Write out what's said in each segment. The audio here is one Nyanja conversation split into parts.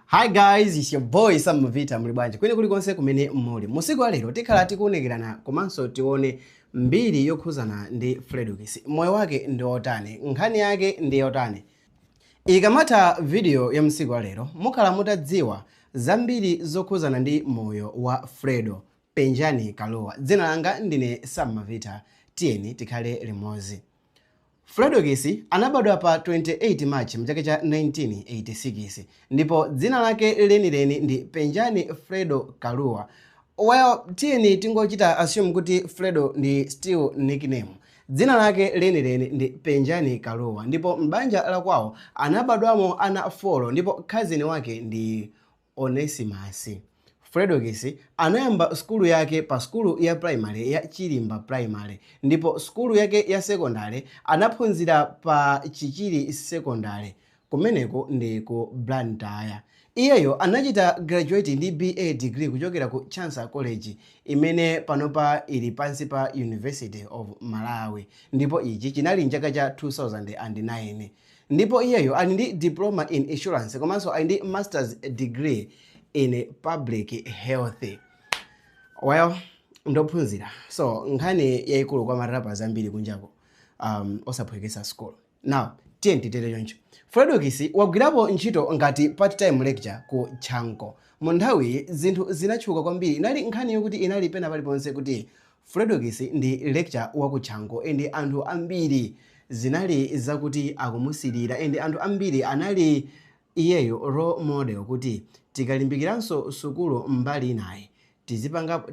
Hi guys, it's your boy Sam Mavita muli bwanji kwene kulikonse kumene muli. Musiku wa lero tikhala tikuonekerana komanso tione mbiri yokhuzana ndi Fredokiss. Moyo wake ndi otani? Nkhani yake ndi yotani? Ikamatha video ya musiku wa lero mukhala mutadziwa zambiri zokhuzana ndi moyo wa Fredo Penjani Kalua. Dzina langa ndine Sam Mavita. Tiyeni tikhale limozi. Fredokiss anabadwa pa 28 March m'chaka cha 1986 ndipo dzina lake lenileni ndi Penjani Fredo Kalua. Well, tiyeni tingochita assume kuti Fredo ndi still nickname. Dzina lake lenileni ndi Penjani Kalua ndipo m'banja lakwawo anabadwamo ana folo ndipo cousin wake ndi Onesimus. Fredokiss anayamba sukulu yake pa sukulu ya primary ya Chilimba Primary ndipo sukulu yake ya sekondale anaphunzira pa Chichiri Sekondale kumeneko ndi ku Blantyre. Iyeyo anachita graduate ndi BA degree kuchokera ku Chancellor College imene panopa ili pansi pa University of Malawi ndipo ichi chinali m'chaka cha 2009. ndipo iyeyo ali ndi diploma in insurance komanso ali ndi masters degree in public health well ndophunzira so nkhani yayikulu kwa ma rappers ambiri kunjako um, osaphwekesa school now tiyeni titere choncho Fredokiss wagwirapo ntchito ngati part time lecturer ku chanco mu nthawiyi zinthu zinatchuka kwambiri inali nkhani yokuti inali pena paliponse kuti Fredokiss ndi lecturer wa ku chanco and anthu ambiri zinali zakuti akumusilira and anthu ambiri anali iyeyo role model kuti tikalimbikiranso sukulu mbali inayi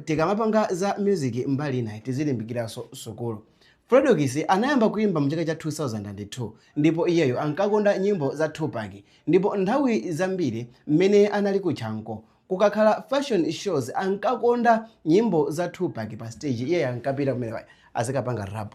tikamapanga za music mbali inayi tizilimbikiranso sukulu. Fredokiss anayamba kuimba mu chaka cha 2002 ndipo iyeyo ankakonda nyimbo za Tupac ndipo nthawi zambiri mmene anali ku chanco Kukakhala fashion shows ankakonda nyimbo za Tupac pa stage iyeyo ankapita kumeneko azikapanga rap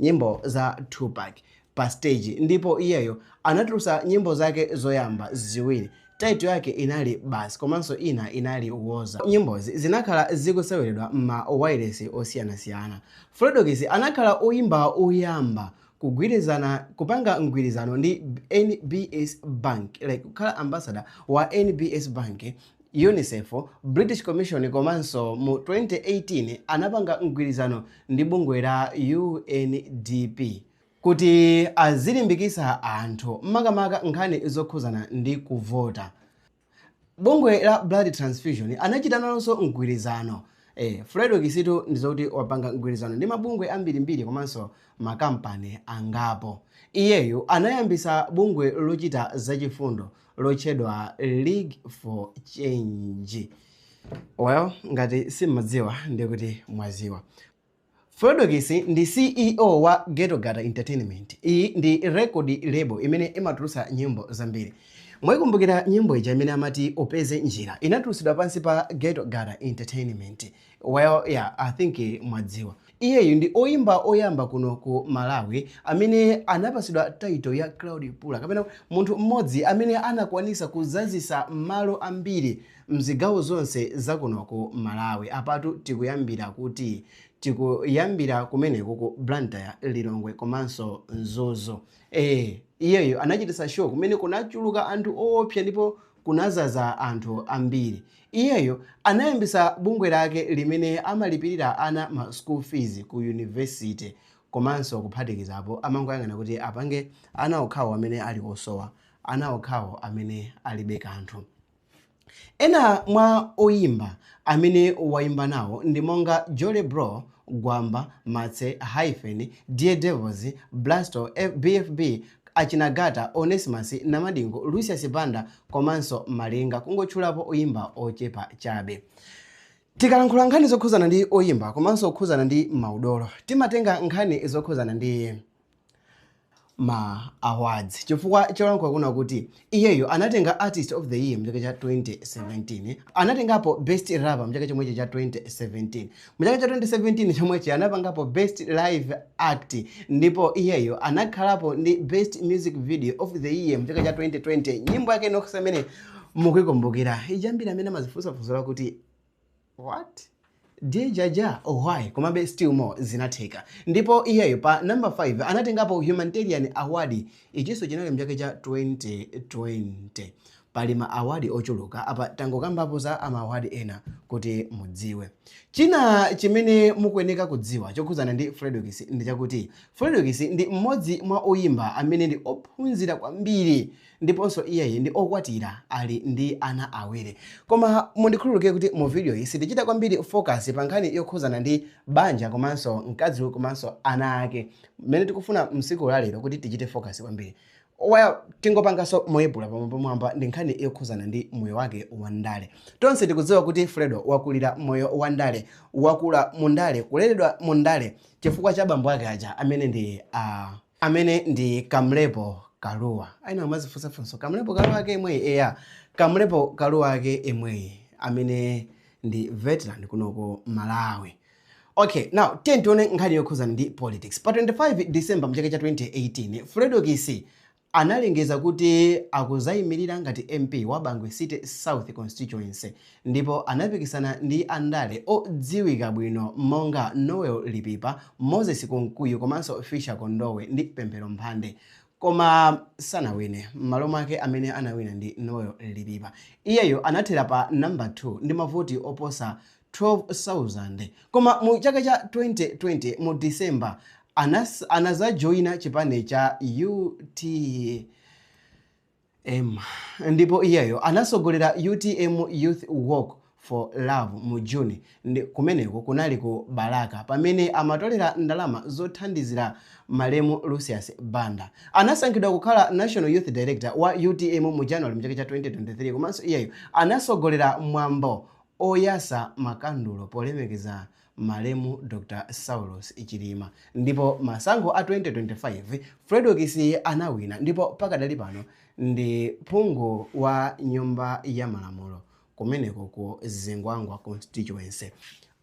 nyimbo za Tupac pa stage ndipo iyeyo anatulusa nyimbo zake zoyamba ziwiri title yake inali basi komanso ina inali woza nyimbozi zinakhala zikuseweredwa mma wailesi osiyanasiyana Fredokiss anakhala oyimba oyamba kugwirizana kupanga mgwirizano ndi NBS Bank like kukhala ambassador wa NBS Bank UNICEF, British Commission komanso mu 2018 anapanga mgwirizano ndi bungwe la UNDP kuti azilimbikisa anthu makamaka nkhani zokhuzana ndi kuvota. Bungwe la Blood Transfusion anachita nalonso mgwirizano. Eh, Fredokiss tu ndizokuti wapanga mgwirizano ndi mabungwe ambirimbiri komanso makampani angapo. Iyeyu anayambisa bungwe lochita zachifundo lotchedwa League for Change. Well, ngati simmadziwa ndikuti mwaziwa. Fredokiss ndi CEO wa Ghetto Gutter Entertainment. Iyi ndi record label imene imatulutsa nyimbo zambiri. Mwaikumbukira nyimbo ija imene amati upeze njira? Inatulutsidwa pansi pa Ghetto Gutter Entertainment. Well yeah, I think mwadziwa. Iyeyu ndi oyimba oyamba kuno ku Malawi amene anapatsidwa title ya Crowd Puller kapena munthu mmodzi amene anakwanisa kuzazisa malo ambiri mzigawo zonse za kuno ku Malawi. Apatu tikuyambira kuti? Tikuyambira kumeneko ku Blantyre, Lilongwe komanso Mzuzu. Eee iyeyo anachititsa show kumene kunachuluka anthu oopsa ndipo kunazaza anthu ambiri. Iyeyo anayambitsa bungwe lake limene amalipirira ana ma school fees ku university komanso kuphatikizapo amangoyang'ana kuti apange ana okhawo amene ali osowa, ana okhawo amene alibe kanthu. Ena mwa oyimba amene wayimba nawo ndi monga Jolly Bro, Gwamba, Martse, Hyphen, Dare Devils, Blasto, BFB, Achina Gattah, Onesimus, Namadingo, Lucius Banda komanso Malinga kungotchulapo oyimba ochepa chabe. Tikalankhula nkhani zokhuzana ndi oyimba komanso kukhuzana ndi maudolo, timatenga nkhani zokhuzana ndi. ma awards chifukwa cholankhula kuna kuti iyeyo anatenga artist of the year mchaka cha 2017 anatengapo best rapper mchaka chomwechi cha 2017 mchaka cha 2017 chomwechi anapangapo best live act ndipo iyeyo anakhalapo ndi best music video of the year mchaka cha 2020 nyimbo yake inokhusa imene mukuyikumbukira ijambira amene amazifunsafunsa kuti what? Dear Jah Jah? Why? Komabe still more zinatheka. Ndipo iyeyo pa number 5 anatengapo humanitarian award. Ichinso chinali mchaka cha 2020. Pali ma award ochuluka apa tangokambapo za ma award ena kuti mudziwe. China chimene mukuyeneka kudziwa chokhudzana ndi Fredokiss ndi chakuti Fredokiss ndi mmodzi mwa oyimba amene ndi ophunzira kwambiri ndiponso iyeyi ndi okwatira ali ndi ana awiri. Koma mundikhululukire kuti mu video yi sitichita kwambiri focus pa nkhani yokhuzana ndi banja komanso mkazi komanso ana ake. Mmene tikufuna msiku la lero kuti tichite focus kwambiri. Well, tingopanganso moyepula pamwambamwamba ndi nkhani yokhuzana ndi moyo wake wa ndale. Tonse tikudziwa kuti Fredo wakulira moyo wa ndale, wakula mu ndale, kuleredwa mu ndale chifukwa cha bambo ake aja amene ndi a uh, amene ndi Kamlepo Kaluwa. Ayenera kumazifunsafunso Kamlepo Kaluwa ake omweyu eya Kamlepo Kaluwa ake omweyu amene ndi veteran kunoko Malawi. Okay, now tiye tione nkhani yokhuzana ndi politics. Pa 25 December mchaka cha 2018, Fredokiss analengeza kuti akuzayimirira ngati MP wa Bangwe City South Constituency ndipo anapikisana ndi andale odziwika bwino monga Noel Lipipa, Moses Kunkuyu komanso Fisher Kondowe ndi Pemphero Mphande koma sanawine, m'malo mwake amene anawina ndi Noel Lipipa. Iyeyo anathera pa number 2 ndi mavoti oposa 12,000. Koma mu chaka cha 2020 mu December, anazajoina chipani cha UT M, ndipo iyeyo anasogolera utm Youth Walk for Love mu June kumeneko kunali ku Balaka pamene amatolera ndalama zothandizira malemu Lucius Banda. Anasankhidwa kukhala National Youth Director wa utm mu January mchaka cha 2023 komanso iyeyo anasogolera mwambo oyasa makandulo polemekeza malemu Dr Saulos Chilima ndipo masankho a 2025 Fredokiss anawina ndipo pakadali pano ndi phungu wa nyumba ya malamulo kumeneko ku Zingwangwa constituency.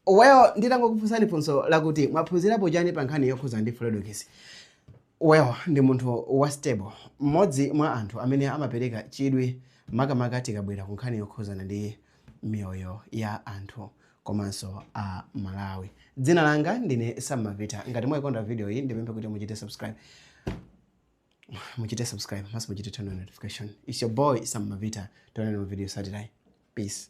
Well, nditangokufunsani funso lakuti mwaphunzirapo chani pa nkhani yokhuza ndi Fredokiss. Well, ndi munthu wa stable, mmodzi mwa anthu amene amapereka chidwi makamaka tikabwera ku nkhani yokhuzana ndi miyoyo ya anthu komanso a Malawi. Dzina langa ndine Sam Mavita. Ngati mwaikonda video iyi ndipemphe kuti muchite subscribe. Muchite subscribe, komanso muchite turn on notification. It's your boy Sam Mavita. Tionane mu video Saturday. Peace.